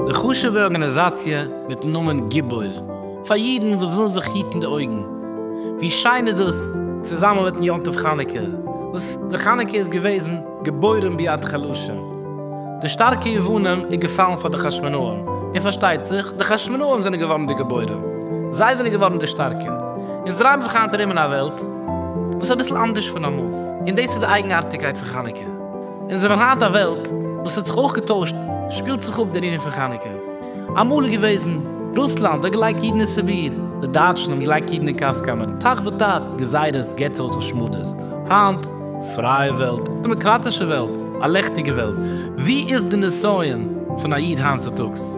די חשוב'ע ארגאניזאציע מיטן נאמען גיבור פאר אידן וואס ווילן זיך היטן די אויגן. ווי שיין איז דאס צוזאמען מיטן יום טוב חנוכה וואס די חנוכה איז געוועזן געבוירן ביד חלשה. די שטארקע יוונים איז געפאלן פאר די חשמונאים, און פארשטייט זיך, די חשמונאים זענען געווארן די גיבורים, זיי זענען געווארן די שטארקע. אונז דרייען זיך היינט ארום אין א וועלט וואס איז אביסל אנדערש פון אמאל, און דאס איז די אייגנארטיגקייט פון חנוכה. אונז האבן היינט א וועלט וואס האט זיך אויך געטוישט, שפילט זיך אפ דער ענין פון חנוכה. אמאל איז געוועזן, רוסלאנד האט געלייגט אידן אין סיביר, די דייטשן האבן געלייגט אידן אין גאז קאמערן, תח ותט, גזירות, געצעלט און שמדות. היינט. פרייע וועלט, דעמאקראטישע וועלט, א לעכטיגע וועלט, ווי איז די נסיון פון א איד היינט צוטאגס?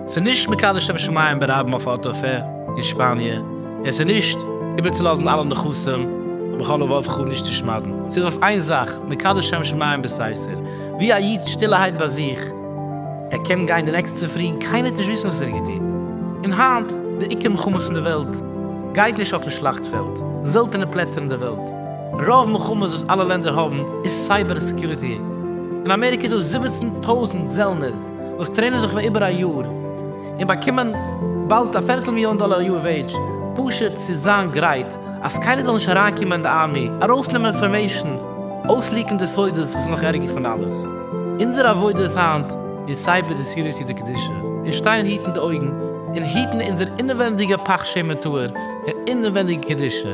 ס'איז נישט מקדש שם שמים ברבים אויף א אטעלפע אין שפאניע, און ס'איז נישט איבערצולאזן אלע נכסים בכל לבב ח נישט צו שמד'ן, ס'איז אויף איין זאך, מקדש שם שמים בסתר, ווי א איד שטילערהייט ביי זיך, ער קען גיין די נעקסטע צופרי און קיינער וועט נישט וויסן וואס ער האט געטון. און היינט, די עיקר מלחמות אין די וועלט גייט נישט אויפן שלאכט פעלד, זעלטענע פלעצער אין די וועלט, רוב מלחמות וואס אלע לענדער האבן איז סייבער סעקיוריטי. אין אמעריקע איז דא זיבעצן טויזנט זעלנער וואס טרעינען זיך פאר איבער א יאר און באקומען באלד א פערטל מיליאן דאלער א יאר וועידזש פשוט צו זיין גרייט אז קיינער זאל נישט אריינקומען אין די ארמי ארויסנעמען אינפארמעישן אויסליעקן די סודות וואס איז נאך ערגער פון אלעס אונזער עבודה איז היינט איז סייבער די סעקיוריטי די קדושה און שטיין היטן די אויגן און היטן אונזער אינעווענדיגע פאך שמן טהור און אינעווענדיגע קדושה.